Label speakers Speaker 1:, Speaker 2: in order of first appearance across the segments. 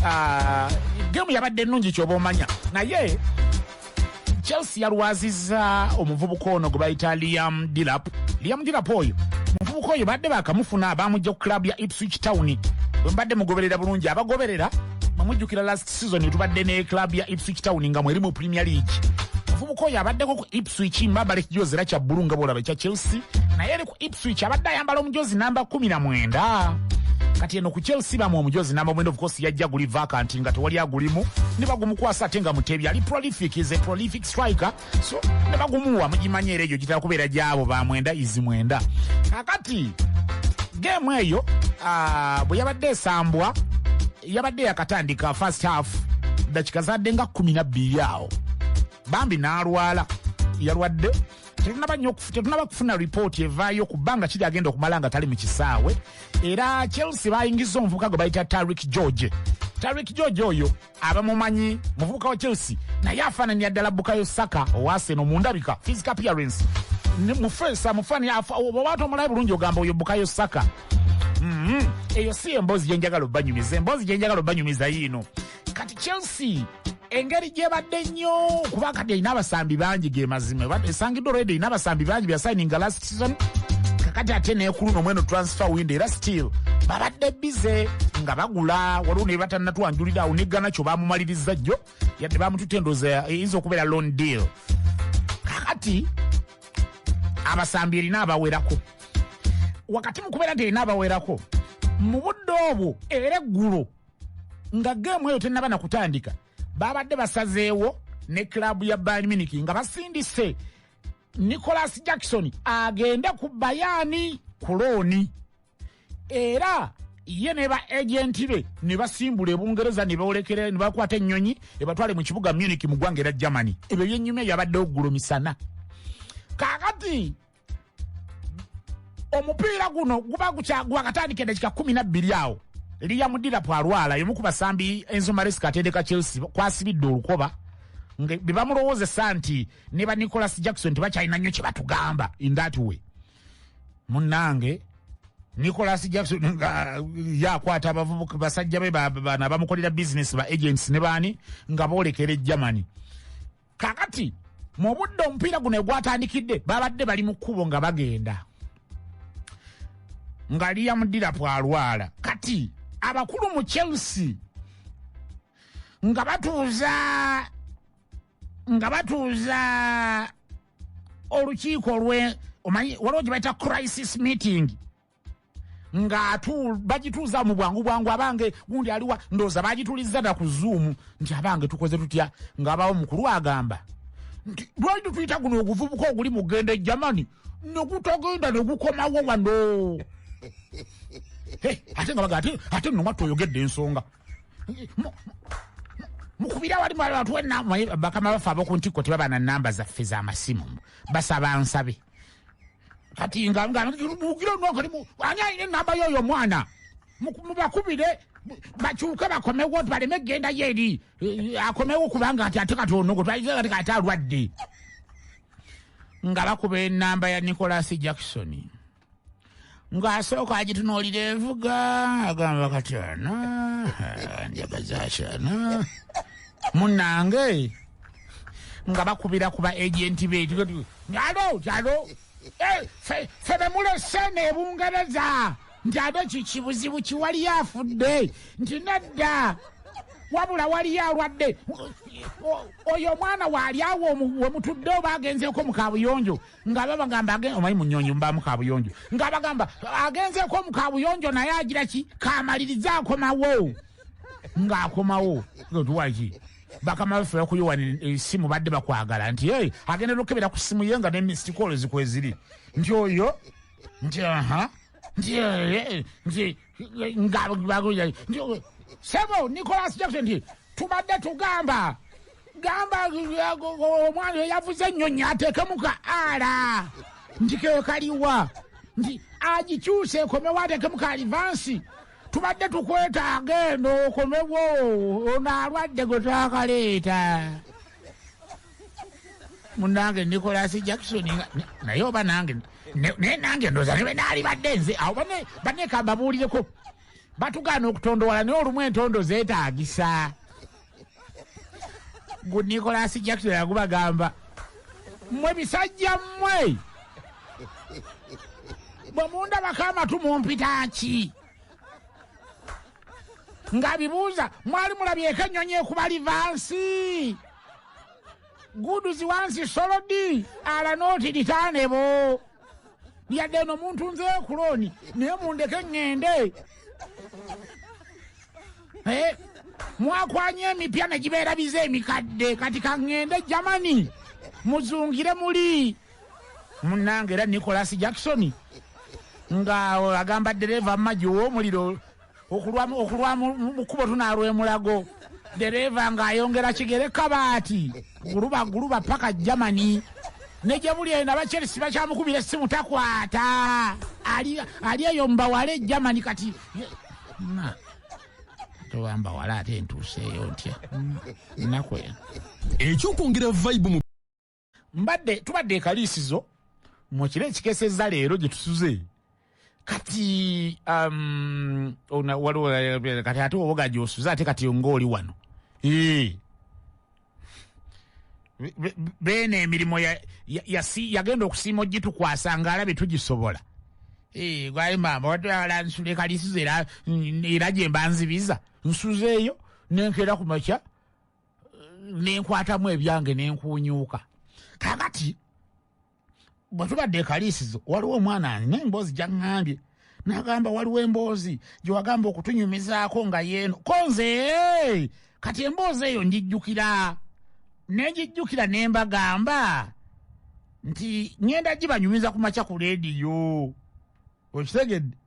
Speaker 1: Ah, gemu yabadde ennungi kyoba omanya naye chelsea yalwaziza omuvubuka ono gwe bayita liam dilap liam dilap oyo omuvubuka oyo badde bakamufuna bamujja ku club ya ipswich town wembadde mugoberera bulungi abagoberera mamujjukira last season tubadde ne club ya ipswich town nga mweri mu premier league omuvubuka oyo abaddeko ku ipswich mbabalekijozera kya bbulu nga bwolaba ekya chelsea naye Ipswich abadde ayambala omujozi namba kumi na mwenda kati eno ku chelsea bamu omujozi namba mwenda ofukosi yajja guli vakanti nga tewali agulimu ne bagumukwasa ate nga mutebi ali prolific is a prolific striker so ne bagumuwa mugimanya era egyo gitera kubeera gyabo ba mwenda izi mwenda kakati geemu eyo ah, bwe yabadde esambwa yabadde yakatandika first half dakika zadde nga kumi nabbiri awo bambi n'alwala yalwadde tetunaba nyo tetunaba kufuna report evayo kubanga kiri agenda okumala nga tali mukisawe era Chelsea bayingiza omuvuka gwe bayita Tariq George Tariq George oyo abamumanyi muvuka wa Chelsea naye afananya ddala Bukayo Saka owa Arsenal mu ndabika physical appearance mufesa mufani obawatu omulayi bulungi ogamba oyo Bukayo Saka mm -hmm. eyo si emboozi gyenjagala obanyumiza emboozi gyenjagala obanyumiza yiino kati chelsea engeri gyebadde nnyo kuba kati erina abasambi bangi gemazima esangiddwa olwedde erina abasambi bangi byasayininga last season kakati ate nekuluno mweno transfer windo era still babadde bize nga bagula waliwo naye batanatwanjulira awo negana kyo bamumaliriza jjo yadde bamutute endoza eyinza okubeera lon deal kakati abasambi erina abawerako wakati mu kubeera nti erina abawerako mu budde obwo era eggulo nga geemu eyo tennaba nakutandika babadde basazeewo ne club ya bayern munich nga basindise nicolas jackson agende ku bayani ku looni era ye ne ba agenti be ne basimbula ebungereza ne bawolekera ne bakwata ennyonyi ebatwale mu kibuga munich mu ggwanga era germany ebyo byenyuma ebyo abadde oggulo misana kakati omupiira guno guba gwakatandika edakika 12 awo liya mudira pwalwala yomu ku basambi enzo maresika atendeka chelsea kwasibidde olukoba nga bebamulowozesa nti ne ba nicolas jackson tebakyalina nnyo kyebatugamba in that way munange nicolas jackson nga yakwata abavubuka basajja be bana bamukolera bizinesi ba agents ne baani nga boolekera egermany kakati mu budde omupiira guno egwatandikidde babadde bali mu kkubo nga bagenda nga liam dirapu alwala kati abakulu mu chelsea nga batuuza nga batuuza olukiiko lwe omanyi waliwo gye bayita crisis meeting nga bagituuza mu bwangu bwangu abange gundi aliwa ndooza bagitulizza na ku zuumu nti abange tukoze tutya ngaabawo mukulu agamba nti lwali tutuyita guno oguvubuka oguli mugenda e jamani nekutagenda negukomawo wano ate nga baga ate nno mwatta oyogedde ensonga mukubira wali mwali batuwe bakama baffe abokuntikko tebaba na namba zaffe zamasimu basaba nsabe kati nga nga mugira no kali mu ani ayine namba yo yo mwana mubakubire bakyuke bakomewo baleme genda yeri eh, akomewo kubanga ati ate kati onogo twaize kati kati alwadde nga bakuba enamba ya Nicholas Jackson ng'asooka agitunuulira envuga agamba kati ana njaga zaki ana munange nga bakubira ku ba agenti be alo alo eh, fe bemulese nebungereza nti ate kikibuzibu kiwaliyo afudde nti nedda wabula waliyo alwadde oyo omwana waali awo wemutudde oba agenzeeko mu kabuyonjo nga babagamba agenda omanyi munyonyi mubamu kabuyonjo nga bagamba agenzeeko mu kabuyonjo naye agira ki kamalirize akomawo ng'akomawo otuwaki bakama baffe bakuyiwa esimu eh, badde bakwagala nti e agenda nokebera ku simu ye nga nemistikoolo zikweziri nti oyo nti aha nti eh, eh, nti sebo nicolas jackson nti tubadde tugamba gamba omwana eyavuze ennyonyi ateekemu ka ala nti keyo kaliwa nti agikyuse ekomewo ateekemu ka alivansi tubadde tukwetaaga eno okomewo ono alwadde gwe twakaleeta munange nicolas jackson naye oba nange naye nange ndoza ne benaali badde nze awo banekambabuulireko batugaana okutondowala naye olumu entondo zeetaagisa gu nicolas jackson yagubagamba mmwe bisajja mmwe bwe mundabako amatu mumpita ki ng'abibuuza mwali mulabyeko ennyonyi ekuba livansi Good is once solo D ala noti ditane bo. Ya deno muntu nze kuloni ne munde kengende. Eh mwakwanye mipya ne jibera bize mikadde kati kangende Germany muzungire muli munange era Nicholas Jackson nga agamba dereva maji wo muliro Okulwa okulwa mu mu kkubo tunaalwa e Mulago, ddereeva ng'ayongera kigere kabaati guluba guluba ppaka Germany ne gye buli eno aba Chelsea bakyamukubira essimu takwata, ali ali eyo mu bawala e Germany kati ye- na toba mbawala ate ntuuseeyo ntya nnaku eno. Ekyokwongera
Speaker 2: vibe mu mbadde
Speaker 1: tubadde ekaliisizo mu kiro ekikeseza leero gye tusuze kati um, waliwo kati ate oboga gyosuze ate kati ngaoli wano beena emirimu yagenda okusiima ogitukwasa ngaalabe tugisobola gwali maama watala nsula ekaliisizo era gyemba nzibiza nsuzeeyo nenkeera ku makya nenkwatamu ebyange nenkuunyuuka kakati bwe tubadde ekaliisizo waliwo omwana ani naye emboozi gyaŋŋambye nagamba waliwo emboozi gye wagamba okutunyumizaako nga yeeno ko nze kati emboozi eyo ngijjukira nengijjukira ne mbagamba nti ŋŋenda gibanyumiza ku makya ku leediyo okitegedde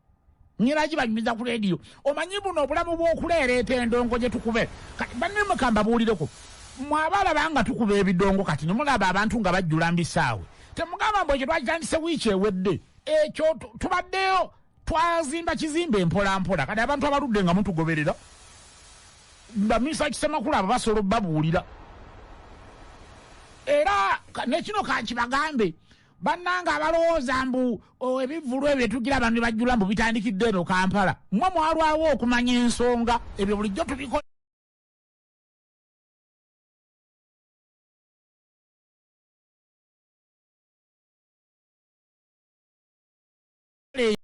Speaker 1: nyiraki banyumiza ku leediyo omanyi buno obulamu bw'okuleereeta endongo gye tukube banne mukamba buulireko mwabalaba nga tukuba ebidongo kati nemulaba abantu nga bajjula mbisaawe temugamba mbu ekyo twakitandise wiiki ewedde ekyo tubaddeyo twazimba kizimba empolampola kati abantu abaludde nga mutugoberera baminisita kisemakulu abo basobola obabuulira era nekino kankibagambe bannanga abalowooza mbu oh, ebivulu ebyo tugiraba ne bajjula mbu bitandikidde eno kampala mwe mwalwawo okumanya ensonga ebyo bulijjo tubikola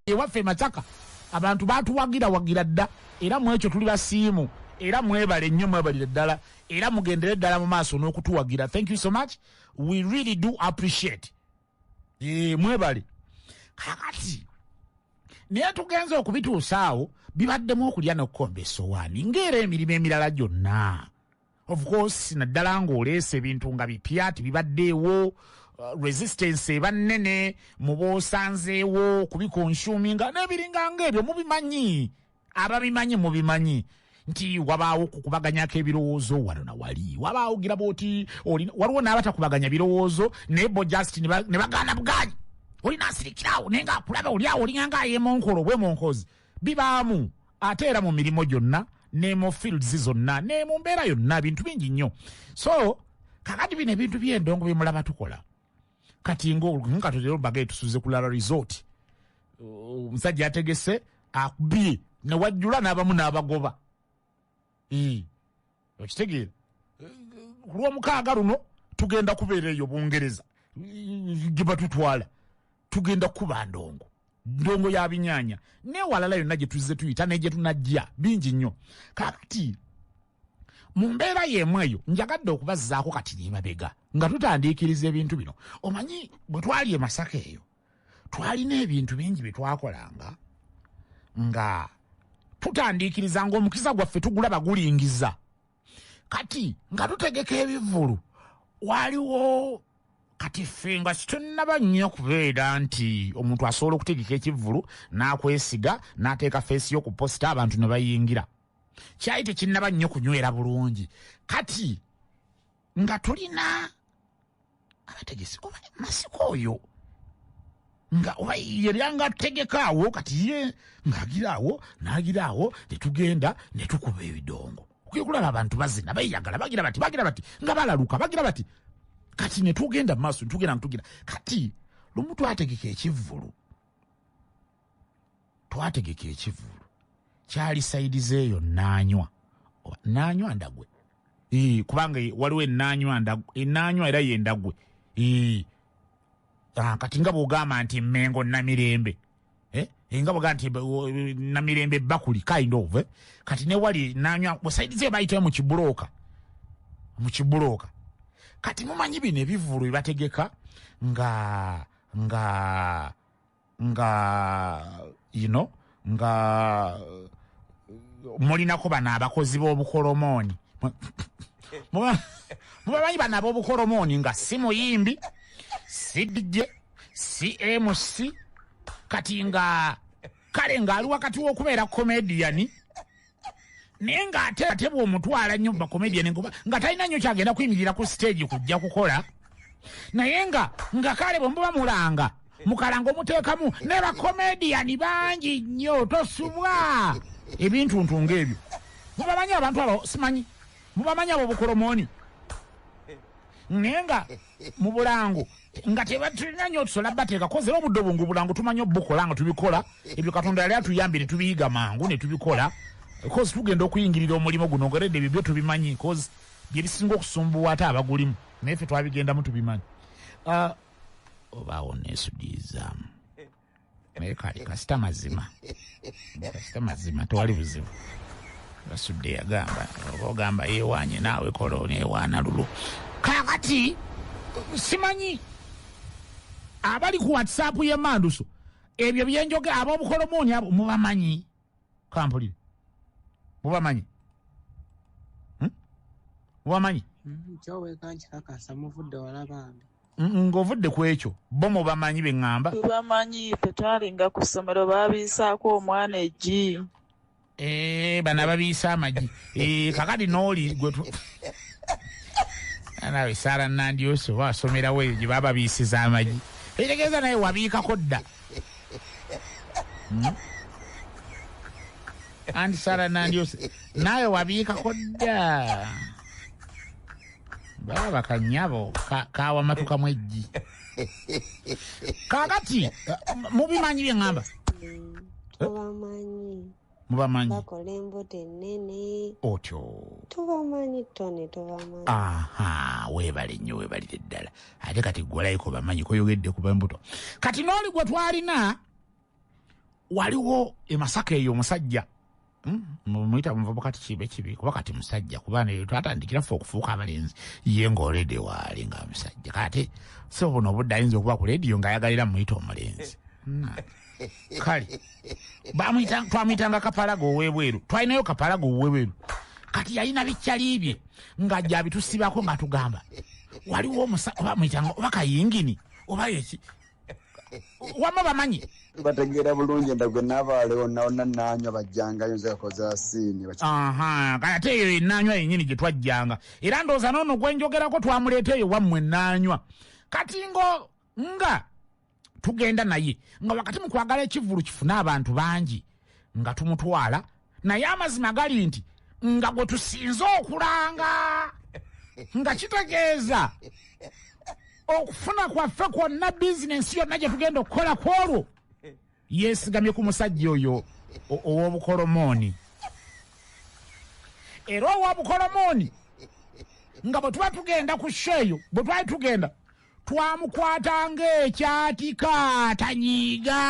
Speaker 1: ewaffe Masaka abantu batuwagira wagira dda era mu ekyo tuli basiimu era mwebale nnyo mwebalire ddala era mugendere ddala mu maaso n'okutuwagira thank you so much we really do appreciate e, mwebale kakati naye tugenze okubituusaawo bibaddemu okulya n'okukomba esowaani ng'era emirimu emirala gyonna Of course naddala ng'oleese ebintu nga bipya tibibaddeewo uh, resistance eba nnene mu boosanzeewo kubikonsuminga n'ebiringa ng'ebyo mubimanyi ababimanyi mubimanyi nti wabaawo kukubaganyako ebirowoozo wano na wali wabaawo gira bwoti waliwo n'abatakubaganya birowoozo naye bo just ne bagaana bwanyi olina asirikirawo naye ngaakulaba oliawo olinganga ayemonkolo obwemonkozi bibaamu ate era mu mirimu gyonna ne mu fields zonna ne mu mbeera yonna bintu bingi nnyo so kakati bino ebintu byendongo byemulaba tukola kati ngakatotero baga etusuze kulala resort omusajja ategese akubye newajjula n'abamu n'abagoba okitegeera ku lwomukaaga luno tugenda kubeera eyo bungereza gye batutwala tugenda kukuba ndongo ndongo ya binyanya newalala yonna gye tuzze tuyita naye gye tunajja bingi nnyo kakati mu mbeera y'emu eyo njagadde okubazzaako kati nemabega nga tutandiikiriza ebintu bino omanyi bwe twali e masaka eyo twalina ebintu bingi bye twakolanga nga tutandiikiriza ng'omukisa gwaffe tugulaba gulingiza kati nga tutegeka ebivvulu waliwo kati ffe nga situnnaba nnyo kubeera nti omuntu asobola okutegeka ekivvulu n'akwesiga n'ateeka feesi yo ku posita abantu ne bayingira kyali tekinnaba nnyo kunywera bulungi kati nga tulina abategesi oba masiko oyo nga oba yeryanga ategekaawo kati ye ng'agiraawo n'agiraawo ne tugenda ne tukuba ebidongo okye kulaba abantu bazina bayagala bagira bati bagira bati nga balaluka bagira bati kati ne tugenda mu maaso ne tugenda ne tugenda kati lumu twategeka ekivvulu twategeka ekivulu kyali sayidi ze eyo nanywa nanywa ndagwe kubanga waliwo enanywa enanywa era yendagwe ah, kati nga bwogamba nti mengo namirembe eh? nga bwogaa nti namirembe bakuli kind of eh? kati newali nanywa sayidi ze bayitayo mukibuloka mukibuloka kati mumanyi bino ebivulu ebategeka nga nga nga you know, nga mulinako bano abakozi b'obukolomooni mubamanyi bano ab'obukolomooni nga si muyimbi si dj si mc kati nga kale ng'ali wakati w'okubeera komediyani naye ng'ate ate bw'omutwala nnyo bakomedian nkuba nga talina nnyo kyagenda kuyimirira ku siteegi kujja kukola naye nga nga kale bwe muba mulanga mukalanga omuteekamu ne bakomediyani bangi nnyo tosubwa ebintu ntu ng'ebyo mubamanyi abantu abo simanyi mubamanyi abo bukolomooni naye nga mu bulango nga tebatulina nyo tusola bateeka kozera obudde obwo ngaobulango tumanyi obukola nga tubikola ebyo katonda yali atuyambye netubiyiga mangu netubikola bcause tugenda okuyingirira omulimu guno ngeredde ebyo byo tubimanyi bcause byebisinga okusumbuwa ate abagulimu naye fe twabigendamu tubimanyi ah, obaawo nesudiizaamu naye kali kasita mazima kasita mazima tewali buzibu basudde yagamba oba ogamba yewaanye naawe kola onewaana lulu kakati simanyi abali ku whatsapp yemanduso ebyo byenjoge abobukolomooni abo mubamanyi kampulire mubamanyi hmm?
Speaker 3: mubamanyi hmm, kyowekankyakasa muvudde wala bambi ng'ovudde ku
Speaker 1: ekyo bo mu bamanyi be ŋŋamba tubamanyi ffe
Speaker 4: twalinga ku ssomero baabiyisaako omwana eggi eh,
Speaker 1: bano ababiisa amagi eh, kakati nooli gwe nawe saala nandyosi oba asomerawo eyo gye bababiisiza amagi ekitegeeza naye wabiikako dda hmm? anti saala nandyosi nawe wabiikako dda baba kanyabo kawamatukamu ka eggi kakati mubimanyi bye ŋŋamba tubamanyi mubamanyi bakola embuto
Speaker 5: ennene otyo
Speaker 1: tubamanyi
Speaker 5: tony tubamanyi aha
Speaker 1: weebale nnyo weebalire ddala ate kati gwalayiko bamanyi koyogedde kuba embuto kati n'oli gwe twalina waliwo emasaka eyo omusajja mumuyita hmm, muvubuka tikibe kibi kuba kati musajja kuba naye twatandikira ffe okufuuka abalenzi ye ngaoledi waali nga musajja kati si obuno obudde ayinza okuba ku lediyo ngaayagalira muyita omulenzi kale twamuyitanga kapalaga owebweru twalinayo kapalaga owebweru kati yalina bikyali bye nga jabitusibako nga tugamba waliwo omusa oba muyitanga oba kayingini oba yeki wama bamanyi bategeera bulungi
Speaker 6: nda gwe nabaalewo naona nanywa bajjangayo nze kakoza siini kale ate
Speaker 1: eyo enanywa yenyini gye twajjanga era ndooza noono gwenjogerako twamuleeta eyo wammwe nanywa kati ngo nga tugenda naye nga wakati mu kwagala ekivulu kifune abantu bangi nga tumutwala naye amazima gali nti nga gwe tusinze okulanga nga kitegeeza okufuna kwaffe kwonna bizinensi yonna gye tugenda okukola ku olwo yeesigamye ku musajja oyo ow'obukolomooni era ow'obukolomooni nga bwe tuba tugenda ku sho eyo bwe twali tugenda twamukwata ng'ekyatika tanyiiga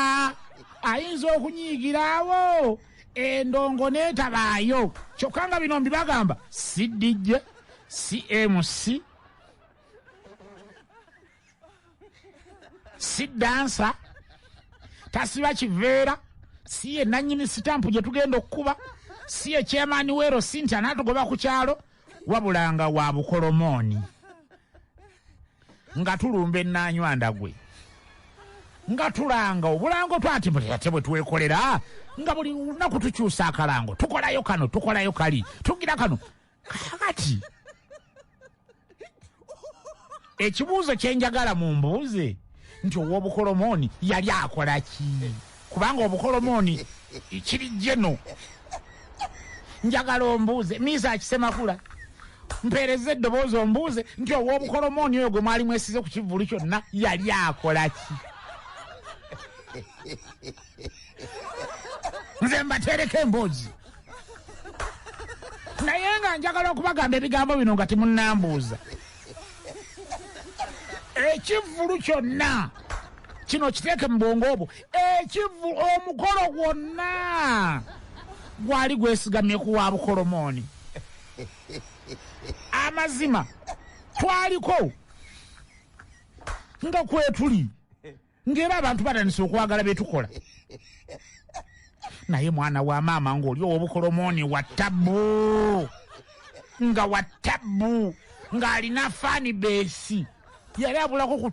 Speaker 1: ayinza okunyiigiraawo endongo n'etabaayo kyokka nga bino mbibagamba si dj si mc si dansa tasiba kiveera si ye nannyini sitampu gye tugenda okukuba si ye kyemaani weero sinti anaatugoba ku kyalo Wabula nga wa bukolomooni. Nga tulumba ennaanywanda gwe. Nga tulanga obulango twati buli ate bwe twekolera nga buli lunaku tukyusa akalango tukolayo kano tukolayo kali tugira kano kakati ekibuuzo kyenjagala mumbuuze nti owobukolomooni yali akola ki kubanga obukolomooni ekiri jeno njagala ombuuze miisa akisemakula mpeereza eddoboozi ombuuze nti owobukolomooni oyo gwe mwali mwesize ku kivvulu kyonna yali akola ki nze mbatereko emboozi naye nga njagala okubagamba ebigambo bino nga timunambuuza ekivvulu kyonna kino kiteeke mu bwongo obwo ekivu omukolo gwonna gwali gwesigamye ku wa bukolomooni amazima twaliko nga kwetuli ng'era abantu batandise okwagala bye tukola naye mwana wa maama ng'oli ow'obukolomooni wa tabbu nga wa tabbu ng'alina faani beesi yali abulako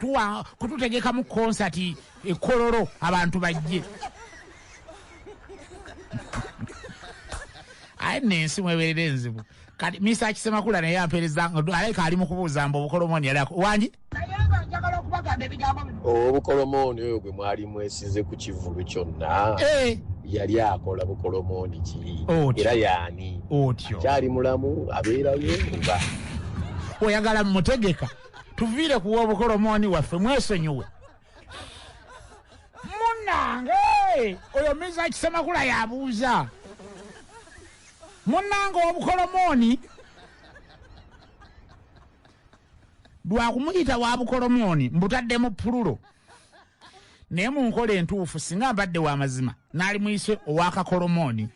Speaker 1: kututegekamu konsati ekololo abantu bajje aye nensi mweberera enzibu kati misa akisemakula naye ampereza alabika ali mukubuuza mbu obukolomooni yali wangi obukolomooni oyo gwe
Speaker 7: mwali mwesize ku kivulu kyonna eh. yali akola bukolomooni ki era yaani akyali
Speaker 1: mulamu
Speaker 7: abeerayo oba oyagala
Speaker 1: mutegeka tuviire kuwa obukolomooni waffe mwesonyiwe munange oyo miza kisemakula yabuuza Munnange obukolomooni lwa kumuyita wa bukolomooni mbutadde mu pululo naye mu nkola entuufu singa mbadde wa mazima naali muyise owakakolomooni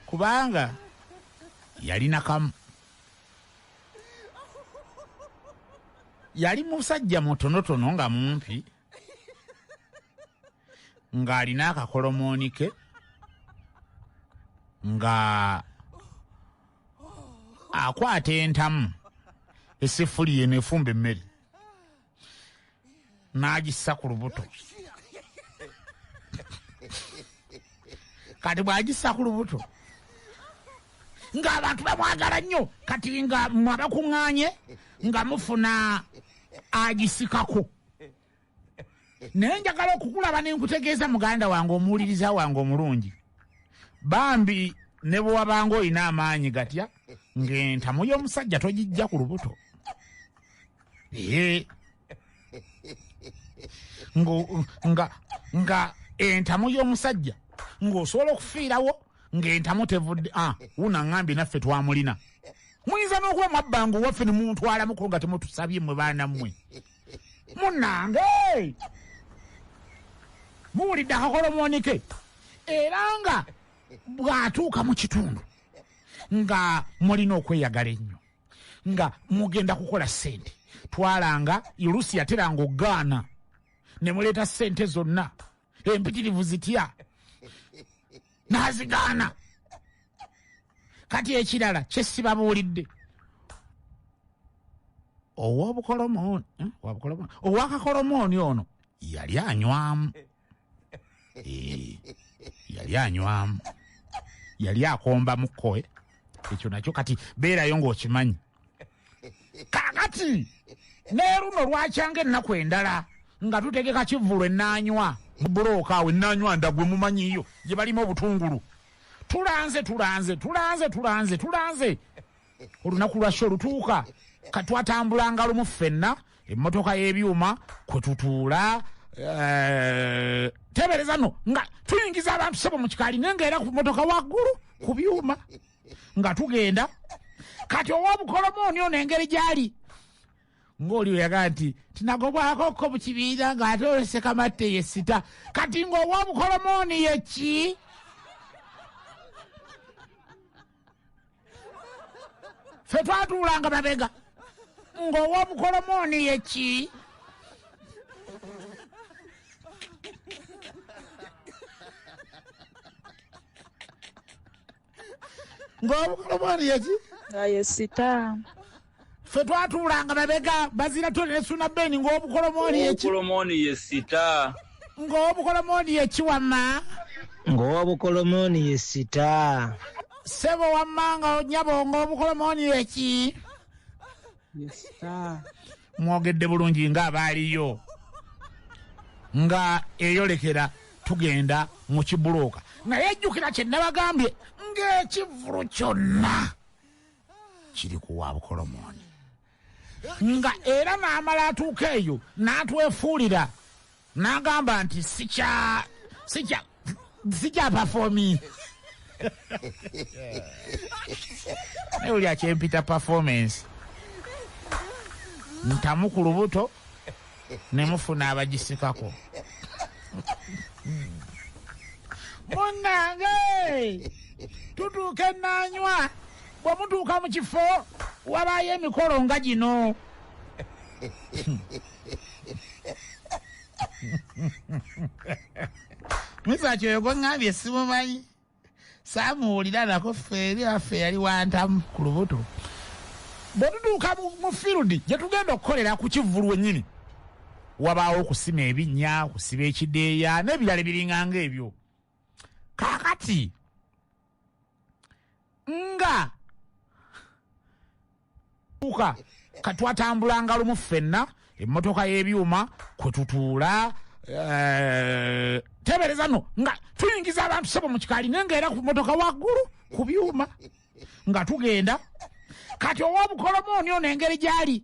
Speaker 1: kubanga yalina kamu yali musajja mutonotono nga mumpi ng'alina akakolomooni ke nga akwata entamu eseffuliya eno efumba emmere n'agissa ku lubuto kati bw'agissa ku lubuto ng'abantu bamwagala nnyo kati nga mwabakuŋŋaanye nga mufuna agisikako naye njagala okukulaba nenkutegeeza muganda wange omuwuliriza wange omulungi bambi ne bwe wabanga olina amaanyi gatya ng'entamu y'omusajja togijja ku lubuto ee nga nga entamu y'omusajja ng'osobola okufiirawo ng'entamu tevudde a ah, wuna ŋambi naffe twamulina muyinza n'okuba mwabbanga owaffe ne mumutwalamuko nga temutusabye mwe baana mmwe munange muwulidde akakola omwonike era nga bw'atuuka mu kitundu nga mulina okweyagala ennyo nga mugenda kukola ssente twalanga oluusi yateranga okugaana ne muleeta ssente zonna empitirivu zitya nazigaana kati ekirala kyesibabuulidde owobukolomooni eh, owakakolomooni ono yali anywamu eh, yali anywamu yali akomba mukkoe ekyo nakyo kati beerayo ng'okimanyi kakati neeruno lwakyanga ennaku endala nga tutegeka kivvulu enaanywa mubulooka awo enaanywa ndagwe mumanyiyo gye balima obutungulu tulanze tulanze tulanze tulanze tulanze olunaku lwakyo olutuuka katwatambula ngalo mu ffenna emmotoka y'ebyuma kwe tutuula eh, tebereza no nga tuyingiza abantu sebo mu kikaali naye nga era ku mmotoka waggulu ku byuma nga tugenda kati ow'obukolomooni ono engeri gy'ali ng'oli oyagaa nti tinagobwako ko mu kibiina ng'ate olwesekamatte ye sita kati ng'ow'obukolomooni ye ki fe twatuulanga mabega ng'ow'obukolomooni ye ki ng'obukolo bwani yaki aye sita ffe twatuulanga babega bazira tole nesuna beni ng'obukolo mwani yaki obukolomoni ye sita
Speaker 8: ng'obukolo
Speaker 1: mwani yaki wamma ng'owobukolomoni
Speaker 3: ye sita sebo
Speaker 1: wamma nga nyabo ng'obukolo mwani yaki mwogedde bulungi nga abaaliyo nga eyolekera tugenda mu kibulooka naye jjukira kye nabagambye ng'ekivulu kyonna kiri kuwa bukolomooni nga era n'amala atuuka eyo n'atwefuulira N'agamba nti sikya sikya sikya performing naye oli akyempita performance ntamu ku lubuto ne mufuna abagisikako munnange tutuuka ennaanywa bwe mutuuka mu kifo wabaayo emikolo nga gino misaaki oyo gweŋŋambye simumanyi saamuwulira nako ffe eri affe yali wantamu ku lubuto bwe tutuuka mu fieldi gye tugenda okukolera ku kivvulu wennyini wabaawo okusima ebinnya okusiba ekideeya n'ebirala ebiringa ng'ebyo kaakati nga tuuka katwatambulanga lumu ffenna emmotoka y'ebyuma kwe tutuula eh, tebereza no nga tuyingiza abantu sebo mu kikaali naye ngaera ku mmotoka waggulu ku byuma nga tugenda kati ow'obukolomooni ono engeri gy'ali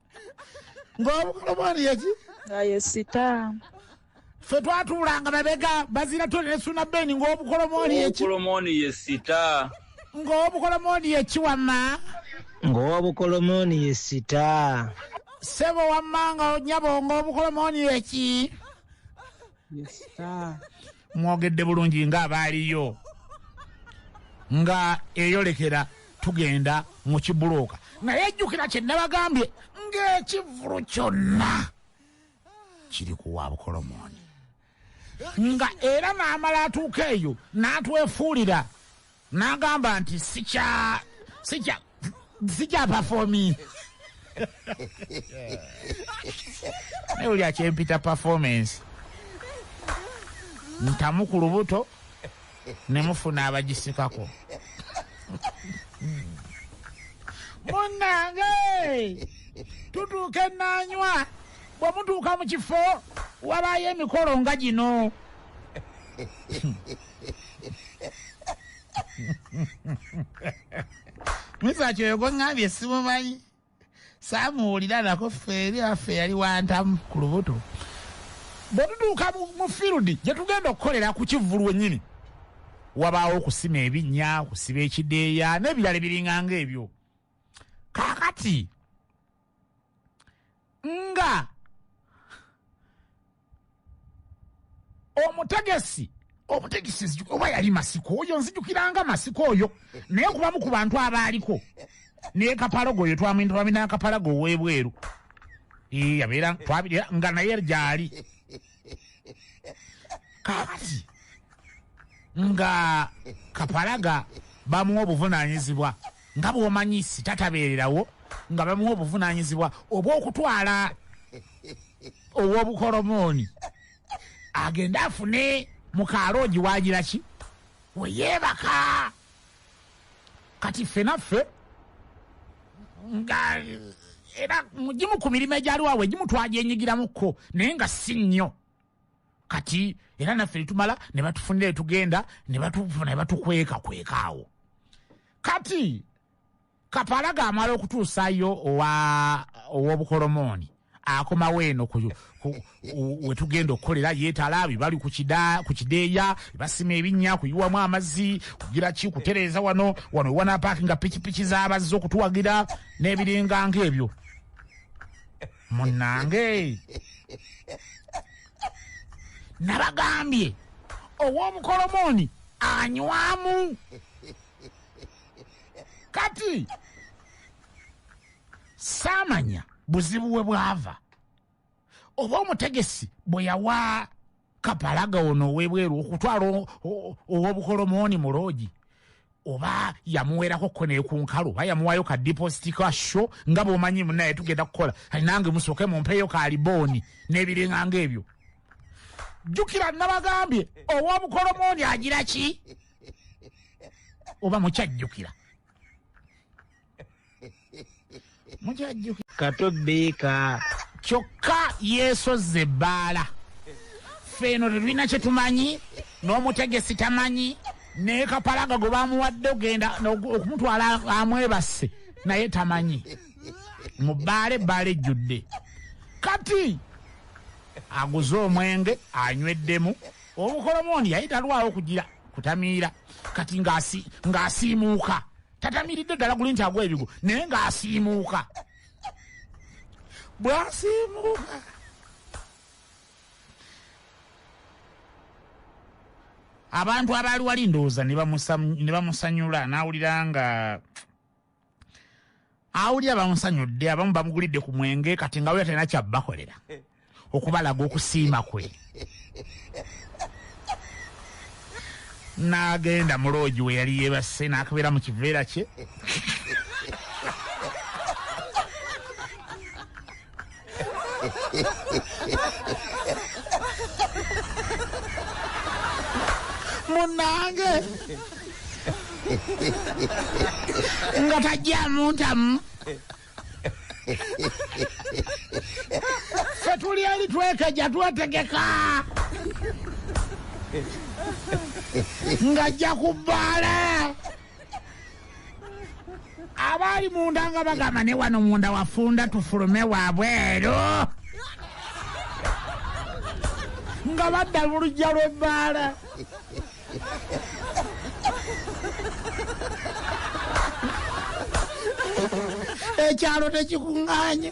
Speaker 1: ng'obukulu bwani yeki aye sita fe twatuulanga babega bazira tone ne suna beni ng'obukolo mwani yeki obukolo mwani ye sita
Speaker 3: ng'obukolo
Speaker 1: mwani yeki wamma ng'obukolo
Speaker 3: mwani ye sita sebo
Speaker 1: wamma nga onyabo ng'obukolo mwani yeki mwogedde bulungi nga abaaliyo nga eyolekera tugenda mu kibulooka naye jjukira kye nabagambye ng'ekivulu kyonna kiri ku wa bukolomooni nga era n'amala atuuka eyo n'atwefuulira N'agamba nti, Sikya, sikya, sikya performing. Naye oli akyempita performance. Ntamu ku lubuto ne mufuna abagisikako. Munnange tutuuka ennaanywa bwe mutuuka mu kifo wabaayo emikolo nga gino. mizaki oyo gweŋŋambye simumanyi saamuwulira nako ffe eri affe yali wantamu ku lubuto bwe tutuuka mu fieldi gye tugenda okukolera ku kivvulu wennyini wabaawo okusima ebinnya okusiba ekideeya n'ebirala ebiringanga ebyo kaakati nga omutegesi omutegesi oba yali masiko oyo nzijukiranga masiko oyo naye kubamu ku bantu abaaliko nekapalogo oyo twamwintamina akapalago owebweru yabeera twabirira nga naye gyali kakati nga kapalaga bamuwa obuvunanyizibwa nga bwomanyi sitatabeererawo nga bamuwa obuvunanyizibwa obwokutwala owobukolomooni agende afune mukaloogi wagira ki weyebaka kati ffe naffe nga era mugimu ku mirimu egyaliwawo egimu twagyenyigiramukko naye nga si nnyo kati era naffe netumala ne batufunira etugenda ne batukweka kwekaawo kati kapalaga amala okutuusayo owa ow'obukolomooni akomawo eno wetugenda okukolera yetala bibali ku kideeya basima ebinnya kuyiwamu amazzi kugira ki kutereeza wano wano wanapaaki nga pikipiki zabazze okutuwagira n'ebiringa ngaebyo munange nabagambye ow'obukolomooni anywamu kati saamanya buzibu we bwava oba omutegesi bwe yawa kapalaga ono owebweru okutwala owobukolomooni mu loogi oba yamuwerako ko nekunkalu oba yamuwayo ka dipositi ka sho nga bwomanyi munaye tugenda kukola nange musooke mumpeeyo ka libooni n'ebiringanga ebyo jjukira nabagambye owobukolomooni agira ki oba mukyajjukira mukyajjukira kato
Speaker 3: biika kyokka
Speaker 1: yeesozza ebbaala ffe eno tetulina kye tumanyi n'omutegesi tamanyi naye kapalaga gwe bamuwadde ogenda okumutwala amwebasse naye tamanyi mu bbaala ebbaala ejjudde kati aguze omwenge anyweddemu Olukolomooni yali talwawo kugira kutamiira kati ng'asiimuuka tatamiiridde ddala guli nti agwa ebigo naye ng'asiimuuka bwasiimuuka abantu abaali wali ndowooza ne bamusanyula n'awulira nga awulira bamusanyudde abamu bamugulidde ku mwenge kati nga wulira talina kyabakolera okubalaga okusiima kwe n'agenda mu loogi we yali yeebase n'akabeera mu kiveera kye munange nga tajjamu ntamu fe tuli eri twekeja twetegeka ng'ajja ku bbaala abaali munda nga bagamba ne wano munda wafunda tufulume wabweru nga badda lulujja lw'ebbaala ekyalo tekikuŋŋaanya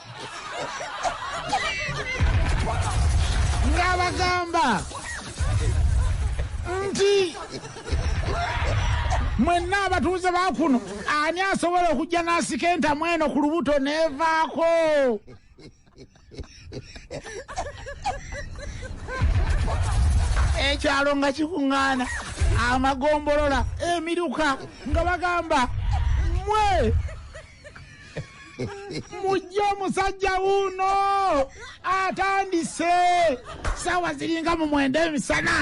Speaker 1: ng'abagamba nti mwenna abatuuze ba kuno ani asobola okujja n'asika entamu eno ku lubuto neevaako ekyalo nga kikuŋŋaana amagombolola emiruka nga bagamba mwe mujje omusajja wuuno atandise saawa ziringa mu mwenda emisana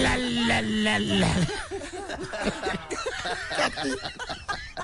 Speaker 1: Alalalala.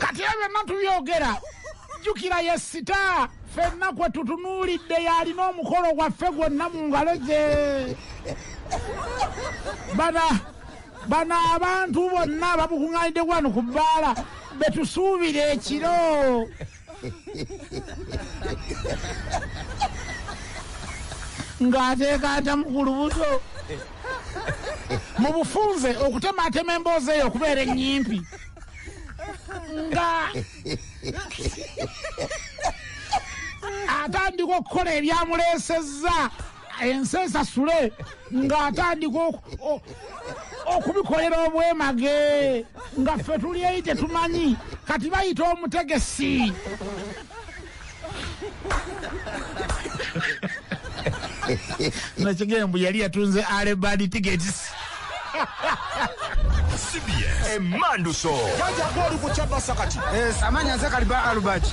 Speaker 1: kati ebyo byonna tubyogera jjukira ye sita fenna kwe tutunuulidde yalina omukolo gwaffe gwonna mu ngalo ze bana bano abantu bonna babukuŋŋanidde wano ku bbaala betusuubira ekiro ng'ateekaata mu ku lubuto mu bufunze okutemaatema emboozi eyo okubeera ennyimpi nga atandika okukola ebyamuleesezza ensi esasule ng'atandika okubikolera obwemage nga ffe tuli eri tetumanyi kati bayita omutegesi nakigembu yali yatunze alebadi tickets cbs emanduso kajagolukucabasa kati
Speaker 3: eh, amanya
Speaker 1: nze
Speaker 2: kaliba
Speaker 3: alubert